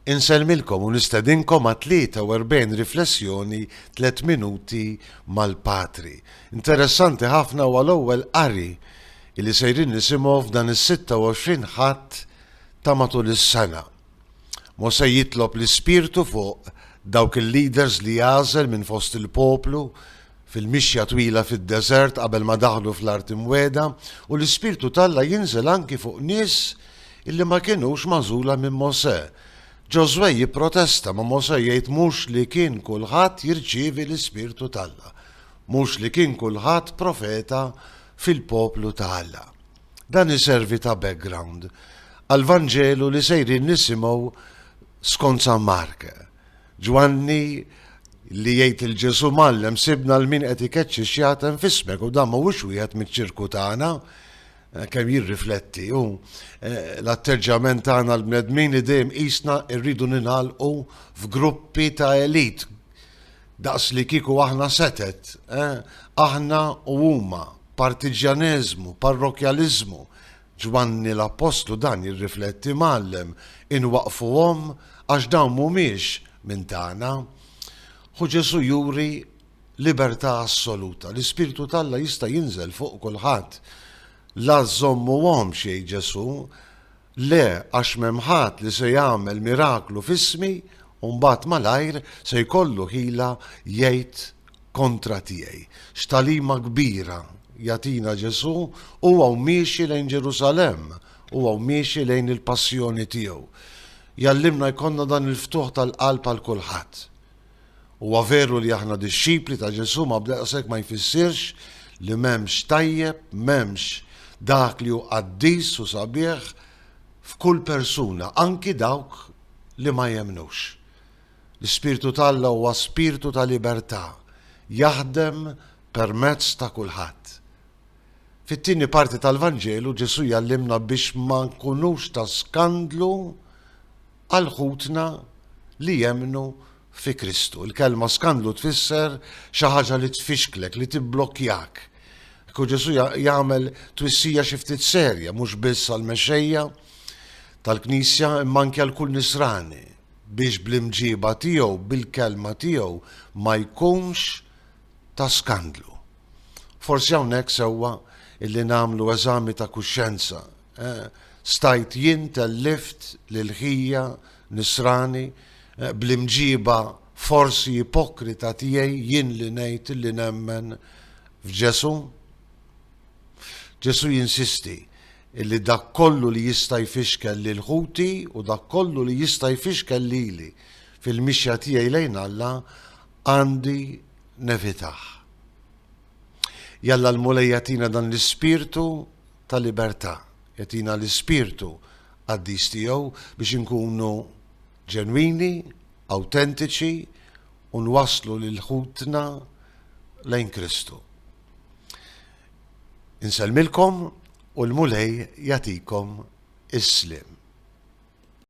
Insellmilkom u nistedinkom għat-43 Riflessjoni Tliet Minuti mal-Patri. Interessanti ħafna huwa l-ewwel qari li sejrin nisimgħu f'dan is-26 Ħadd ta' matul is-sena. Mosè jitlob l-Ispirtu fuq dawk il-leaders li għażel minn fost il-poplu fil-mixja twila fid-deżert qabel ma daħlu fl-Art Imwiegħda, u l-Ispirtu t'Alla jinżel anki fuq nies li ma kinux magħżula minn Mosè. Ġożwè jipprotesta, ma Mosè jgħid mhux li kien kulħadd jirċievi l-Ispirtu t'Alla, mhux li kien kulħadd profeta fil-poplu ta' Alla. Dan iservi ta' background għall-Vanġelu li sejrin nisimgħu skont San Mark. Ġwanni li jgħid lil Ġesù, Mgħallem, sibna lil min qed ikeċċi xjaten f'ismek u dan mhuwiex wieħed miċ-ċirku tagħna. Eh, kemm jirrifletti u eh, l-atteġġjament tagħna l-bnedmin li dejjem qisna rridu ninħalqu f'gruppi ta' elit daqs li kiku aħna setet, eh, aħna u huma, partiġjaneżmu, parrokjaliżmu, Ġwanni l-appostlu dan jirrifletti, Mgħallem, inwaqqfuhom għax dawn mhumiex minn tagħna. Ħu Ġesù juri libertà assoluta. L-Ispirtu t'Alla jista' jinżel fuq kulħadd. La żżommuhomx, jgħid Ġesù, le għax m'hemm ħadd li se jagħmel miraklu f'ismi u mbagħad malajr se jkollu ħila jgħid kontra tiegħi. X'tagħlima kbira jagħtina Ġesù? Hu hawn miexi lejn Ġerusalemm, hu hawn miexi lejn il-passjoni tiegħu. Jgħallimna jkollna dan il-ftuħ tal-qalb għal kulħadd. Huwa veru li aħna dixxipli ta' Ġesù ma b'daqshekk ma jfissirx li m'hemmx tajjeb, m'hemmx dak li hu qaddis u sabiħ f'kull persuna, anki dawk li ma jemmnux. L-Ispirtu t'Alla huwa spirtu ta' libertà, jaħdem permezz ta' kulħadd. Fit-tieni parti tal-Vanġelu Ġesù jgħallimna biex ma nkunux ta' skandlu għal ħutna li jemmnu fi Kristu. Il-kelma skandlu tfisser xi ħaġa li tfixklek, li tibblokkjak. Ekku Ġesù jagħmel twissija xi ftit serja mhux biss għall-mexxejja tal-Knisja imma anke għal kull Nisrani. biex bl-imġieba tiegħu, bil-kelma tiegħu ma jkunx ta' skandlu. Forsi hawnhekk sewwa illi nagħmlu eżami ta' kuxjenza. Eh, stajt jien tellift lil ħija nisrani eh, bl-imġieba forsi ipokrita tiegħi jien li ngħid li nemmen f'Ġesu? Ġesu jinsisti illi dak kollu li jista' jfixkel lil ħuti u dak kollu li jista' jfixkel lili fil-mixja tiegħi lejn Alla għandi nevitah. Jalla l-Mulej jagħtina dan l-ispirtu ta' libertà, jagħtina l-ispirtu qaddis tiegħu biex inkunu ġenwini, awtentiċi u nwasslu lil ħutna lejn Kristu. Insellmilkom u l-Mulej jagħtikom is-sliem.